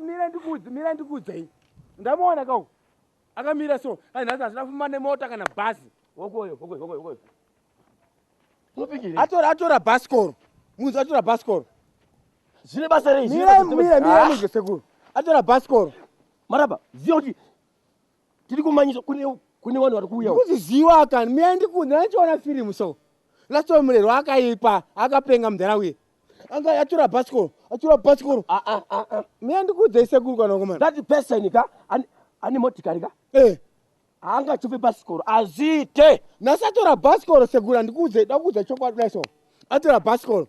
mira ndikudze mira ndikudze iyi ndamuona kau akamira so ai nhasi hazvina kufamba nemota kana bhazi wokoyo wokoyo wokoyo wokoyo atora atora bhasikoro munzi atora bhasikoro zvine basa rei mira mira mira ah. mudye sekuru atora bhasikoro maraba ziva kuti tiri kumanyisa kune kune vanhu vari kuuya kuziziwa kani miya ndikunzi nandichiona firimu so lasto murerwa akaipa akapenga mudhara uye anga yatura bhasikoro atura bhasikoro ah, ah, ah, miya ndikuudzei sekuru kanakomana that person ka ane motikari ka eh. anga achive bhasikoro azite nasi atora bhasikoro sekuru andikuudzei dakuudza chokwadi dai so atora bhasikoro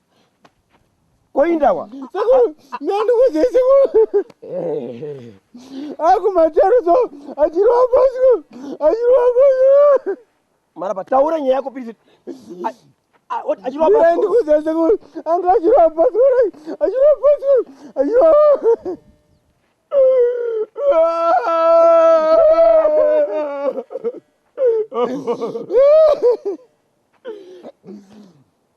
koindawa nandikuze sekuru akumacharuso achirowa pasi achirowa pasi maraba taura nyaya yako pisi achirowaandikuze sekuru anga achirowa pasi achirowa pasi achirowa Oh,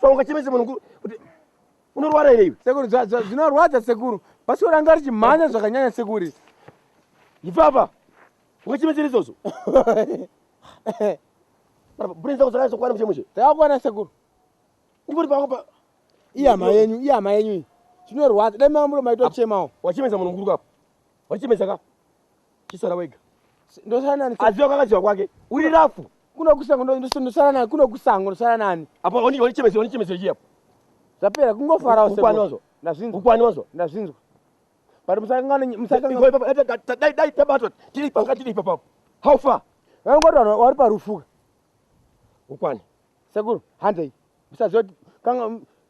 so ungachemese munhu kuti unorwara here iwe sekuru zvinorwadza sekuru bhasikoro anga richimhanya zvakanyanya sekuri ipapa ungachemesera izvozvo brain dzako dzakazokwana muchemushe dzakakwana sekuru ndingoti paapa ihama yenyu ihama yenyu iyi zvinorwadza dai mamuro maitochemawo wachemesa munhu mukuru kapo Wachimedza ka? Chisara wega. Ndosara nani? Aziva kakaziva kwake. Uri rafu. Kuno kusango ndosara nani? Kuno kusango ndosara nani? Apo oni oni chimedza oni chimedza chiyapo. Zvapera kungofara wose. Ukwani wazo? Ndazvinzwa. Ukwani wazo? Ndazvinzwa. Bari musakangana musakangana. Dai dai tabatwa. Tiri panga tiri papa. How far? Vanongoti vanhu wari parufuka. Ukwani. Sekuru, handei. Musazoti kanga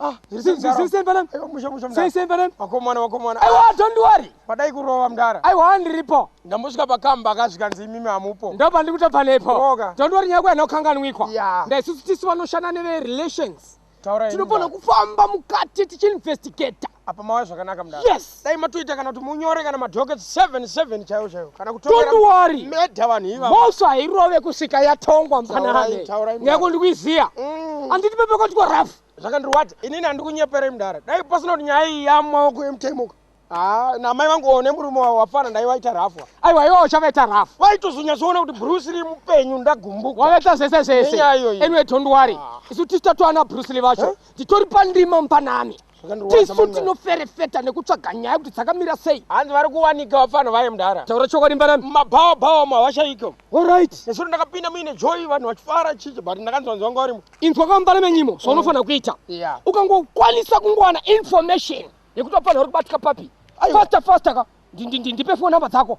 Ah, here See, see, mdara. see, see, Mbalam. Aiwa, mushe, mushe, mdara. See, see, Mbalam. Vakomana, vakomana. Aiwa, don't worry. Padai kurova mdara. Aiwa, handiripo. Ndambosvika pakamba akasvika nzi imimi hamupo. Ndipo pandiri kutobva nepo. Roga. Don't worry nyaya kwena ukanganwikwa. Yeah. Ndaisusu tisu vanoshanda neve relations. Taura henyu, Tinofana mdara. kufamba mukati tichinvestigator. Apa mauya zvakanaka mdara. Yes. dai matoita kana kuti munyore kana madokets 77 chaiwo chaiwo kana kutomeeda vanhu ivamoso hairove kusvika yatongwa mpananekuti ndikuiziya mm. anditi pepekotiko rafu zvakandirwadza inini handikunyeperei mudara dai pasina kuti nyaya iyi yamaoko emutaimuka Ah, na mai vangu one murume wavo wafana ndai vaita rafu aiwa iwo uchavaita rafu vaitozonyatsoona kuti bruce lee mupenyu ndagumbuka wavaita zvese zvese anyway don't worry ah. isu tichitatoana bruce lee vacho titori pandima mupanani tisu tinoferefeta nekutsvaga nyaya kuti dzakamira sei hanzi vari kuwanika vapfanha vaye mudhara taura chokwadi mbanani mabhawa bhawa mawashaiko orit nesuro ndakapinda muine joy vanhu vachifara chichi but ndakanzwanzi vanga varimo inzwa kwambana menyimo zvaunofanira mm. kuita ukangokwanisa kungowana information yekuti vapfanha vari kubatika papi fasta fasta ka ndipe fo number dzako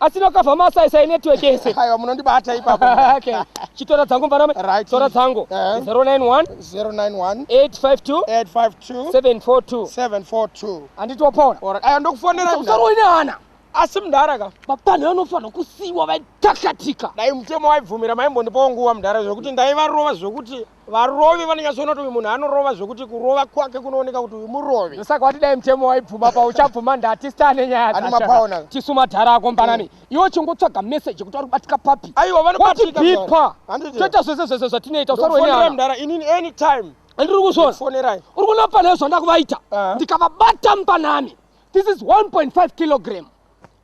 asi nokavha masaisai network yese aiwa munondibata ipapo okay chitora dzangu mvarame right tora dzangu uh -huh. 091 091 852 852 742 742 anditi wapona alright aiwa ndokufonera usaroi nehana asi mudhara ka vapanhu vanofanira kusiiwa vaitakatika dai mutemo waibvumira maimbondipawo nguva mudhara zvekuti ndaivarova zvekuti Varovi vanonyatsoona kuti uyu munhu anorova zvekuti kurova kwake kunooneka kuti uyu murovi. Ndosaka wati dai mutemo waibvuma pa uchabvuma ndati star nenyaya Ane dzasha. mapaona. Tisu madhara ako mbanani. Iwe uchingotsvaga message kuti ari kubatika papi. Aiwa vanobatika Wati mdara. bipa. Handiti. Toita zvese zvese zvatinoita usarwe Ndokufonera nyaya. mdara inini anytime. Andiri kuzvona. Fonerai. Uri kuona pane zvandakuvaita. Ah. Ndikavabata mbanani. This is 1.5 kilogram.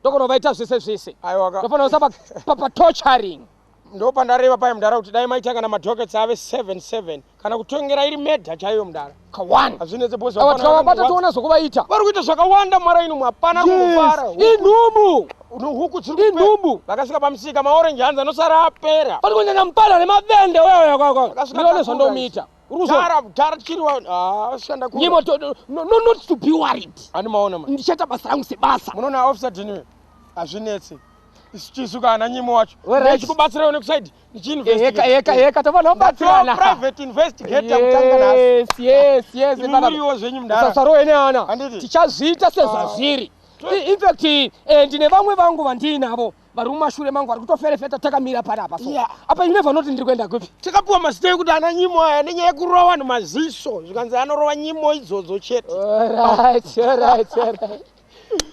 Ndokunovaita zvese zvese. Aiwa ka. Ndofanira kusaba papa torturing. ndopandareva paye mudhara kuti dai maitanga namadhokets ave 77 kana kutongera iri medha chaiyo mudhara kawani hazvinetse bhozi Awa tikavabata tiona zvokuvaita vari kuita zvakawanda mwara ino hapana Yes, kungofara inhubu huku dziri inhubu vakasvika pamusika maorenji hanzi anosara apera pari kunyanya mupana nemavende uyauyakwakwa Vakasvika ndinoone takura zvandomuita uri kuzwa mudhara mudhara tichiriwa ah, shanda kure. nyimo to- no- no- no- not to be worried handimaona ma ndichaita basa rangu sebasa munoona officer dinwe hazvinetse sitisuka ana nyimo wacho ndechikubatsira une kusaidi ndichiinvestigateeka tofanira kubatsirana private investigator kutanga nasi yes yes yes imuriwo zvenyu mdara sasarowe neana tichazviita sezvazviri ah. infact eh, ndine vamwe vangu vandiinavo vari mumashure mangu vari kutoferefeta takamira pari apa so apa ine vanoti ndiri kuenda kupi takapiwa mazita ekuti ana nyimo aya nenyaya yekurova vanhu maziso zvikanzi anorova nyimo idzodzo chete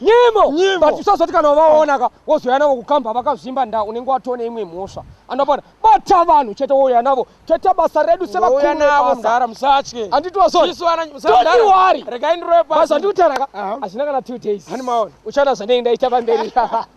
nyimo but usazoti kana vaona ka wozoya navo kukamba vakazvimba nda unenge watone imwe mhosva anopona bata vanhu chete wouya navo toita basa redu sevakuuyanavozara musatye anditiwasondiwari regai ndiroe basa ndikutaraka hazvina kana two days uchana zvanei ndaita pamberi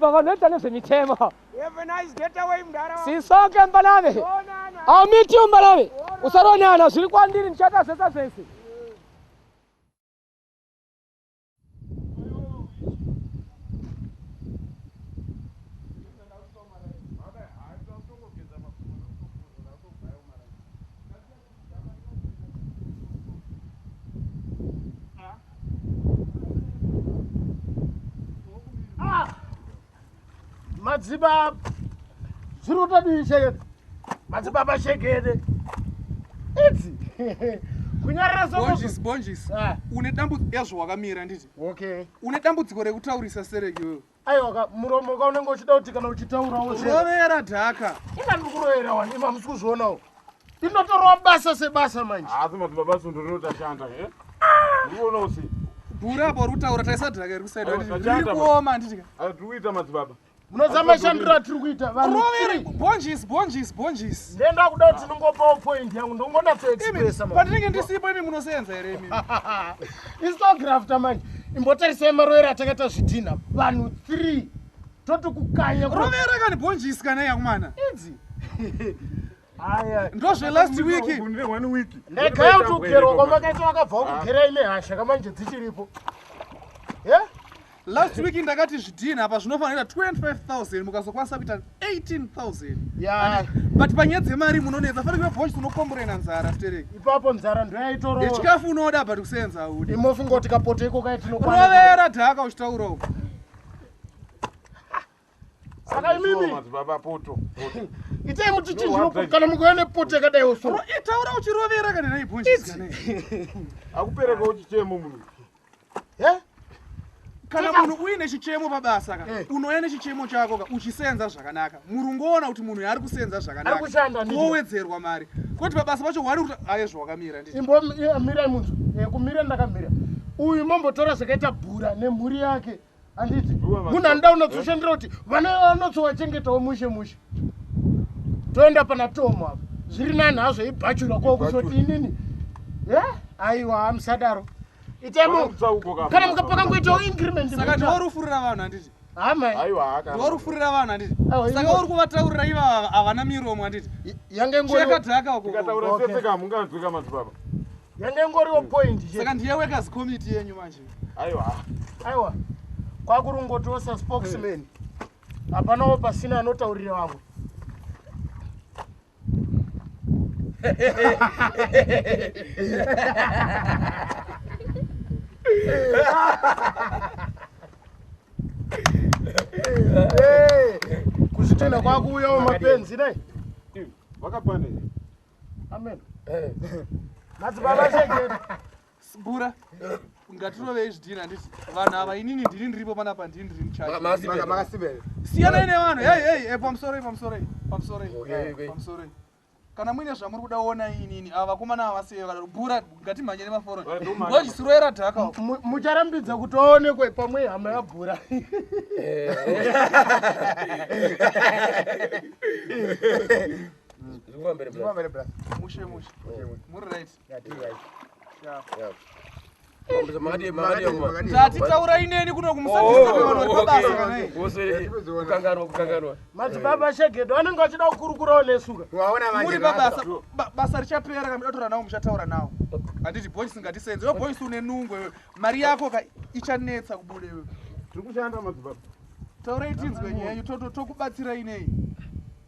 Pavanoita nezvemitemo. Have a nice getaway mdara. Sisoke mbalave. I'll meet you mbalave. Usaronana zviri kwandiri ndichata zvese zvese. madzibaba zviri kutodii shekede madzibaba shekede idzi kunyararasbonjis bonjis ah. une dambudziko yazvo wakamira nditi okay une dambudziko rekutaurisa serekiwewe aiwaka muromo ka unenge uchida kuti kana uchitaurawo zvirovera dhaka ina ndiri kurovera wani ima musi kuzvionawo ndinotorawa basa sebasa manje asi madzibaba sundo rinotashanda e ndiona usi bhura bori kutaura taisa dhaka iri kusaida riri kuoma handitika tiri kuita madzibaba munoziva mashandiro atiri kuita vanhurovere bonjis bonjis bonjis ndenda kuda kuti ndingopawo point yangu ndongonatsoexpressa patinenge ndisipo imi munoseenza here imi Isu tografta manje. Imbotarisai marovero atakaita zvidhinha vanhu 3 toti kukanya. Rovera kani bhonji isikana yakumana. Idzi. ndozve last week ndagaya kuti ugerwa kwamakaita vakabva kugerai nehasha kamanje dzichiripo last week ndakati zvidhini apa zvinofanira 25000 mukazokwanisa kuita 18000 yeah. but panyaya dzemari munonetsa fana kuve voice unokomborena nzara stereki ipapo nzara ndoyaitoro yechikafu unoda but kusenza audi imofunga kuti kapoto iko kaitinorovera dhaka uchitaura uko saka imimi madzibaba poto itai mutichinjiro kana mukuenda poto yakadai oso itaura uchirovera kana naibhonjisi akupereka uchichemo munhu he kana munhu uine chichemo pabasa ka eh. unouya nechichemo chako ka uchisenza zvakanaka murungu oona kuti munhu yaari kusenza zvakanakaowedzerwa mari kwoti pabasa pacho wari kuti aye zvawakamira ndiimbomirai eh, munhu eh, kumira ndakamira uyu mambotora zvakaita bhura nemhuri yake handiti munhu anoda unotsoshandira kuti vana vanotsowachengetawo mushe mushe toenda pana tomo apa zviri nani hazvo ibhachura ko kuzoti inini e aiwa hamusadaro itaimokana mukapaka ngoitawo incrementsaka ndiworufurira vanhu handiti ndiworufurira vanhu handiti saka uri kuvataurira iva havana miromo handiti yange ngoekadhaka ukokataura sese kamunganzwika madzibaba yanga ingoriwo point saka ndiye workers committee yenyu manje aiwa aiwa kwakurungotosa spokesman hapanawo pasina anotaurira vamwe kuzvitenda kwakuuyawo mapenzi dai vakapane amen eh. madzibaba chengeta sibura ngatirovei zvidini handiti vanhu ava inini ndiri ndiripo pana pa ndiri ndiri muchasiyanai nevanhu hey hey eh, pamusoroi pamusoroi pamusoroi eh, pamusoroi kana muine zvamuri kuda ona inini ava vakomana ava vaseye vakadaro bura ngatimhanyere maforoni wachisiroera dhaka mucharambidza kuti aonekwe pamwe hama yabhura Zvikuva mbere Zvikuva mbere brother. Mushe mushe. Muri right. Yeah, tiri right. Yeah. Yeah. Tati taura ineni kuno kumusakanganwa kukanganwa madzibaba shegedo anenge vachida kukurukurawo nesuka muri pabasa basa richapera kana mudatora nawo muchataura nawo handiti boys ngatisenze we boys une nungo iwe mari yako ka ichanetsa kubuda iwe tiri kushanda madzibaba taurai tinzwe nyenyu tokubatsirai nei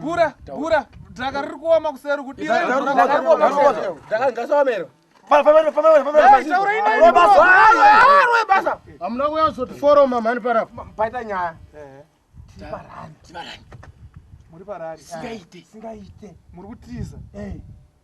Bura, bura, dhaka riri kuoma kuseri kudira. Dhaka ngasaomero. Hamuna kuya kuzotiforoma mhani parapo. Paita nyaya. Tibarani. Tibarani. Muri parari. Singaite. Singaite. Muri kutiza. Eh.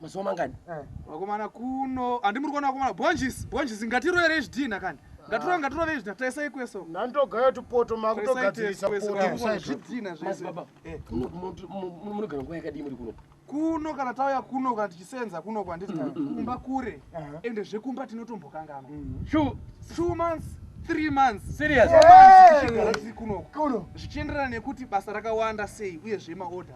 mazuva mangani eh. vakomana kuno handi muri kuona vakomana bonjisi bonjisi ngatiroyerei zvidhinha kani ngatirove ngatirove izvi taisai kweso ndandogayo tupoto makutogadzirisa zvidhinha zvesebaba eh. munogara nguva yakadii muri kuno kuno kana tauya kuno kana tichisenza kuno kwanditi mm, mm, mm. kumba kure ende zvekumba tinotombokanganwa two months three months serious kuno zvichienderana nekuti basa rakawanda sei uye zvemaorder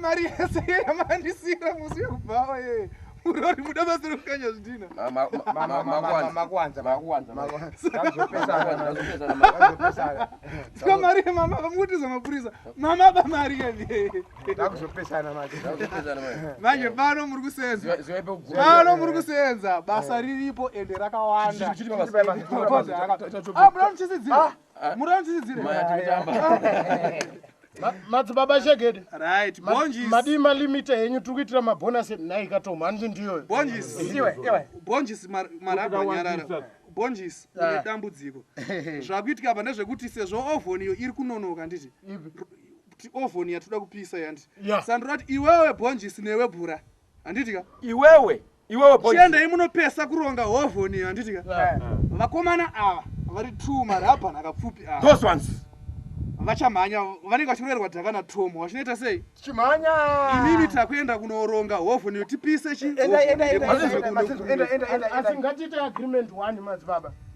mari yese yamandisira musi yekubhawa yee urori muda basa rekukanya zvidhina mari yemama vamukutiza mapurisa mama bamari yevee Ndakuzopesana manje. Ndakuzopesana manje. Manje pano muri kusenza. Ziwa ipo guru. Pano muri kusenza. Basa riripo ende rakawanda. Chiri baba. Ah, muri kuchisidzira. Ah, ah. Muri kuchisidzira. Maya tikutamba. madzibaba shegede right bonjis madii malimita henyu tiri kuitira mabonus nhai katoma handi ndiyoyo bonjis iwe iwe bonjis marabha nyarara bonjis ah. une dambudziko zvakuitika apa ndezvekuti sezvo ovoniyo iri kunonoka nditi kuti oven yatoda kupisa yandi yeah. sandura kuti iwewe bhonjisi newe bhura handiti ka iwewe iwewe chiendai munopesa kuronga oven iyo handiti ka yeah. yeah. vakomana ava vari two marabhan akapfupi ava those ones vachamhanya vanenge vachiroerwa dhaka natom vachinoita sei chimhanya inini takuenda kunoronga hovhoni yo tipise chiasi ngatiite agreement one madzibaba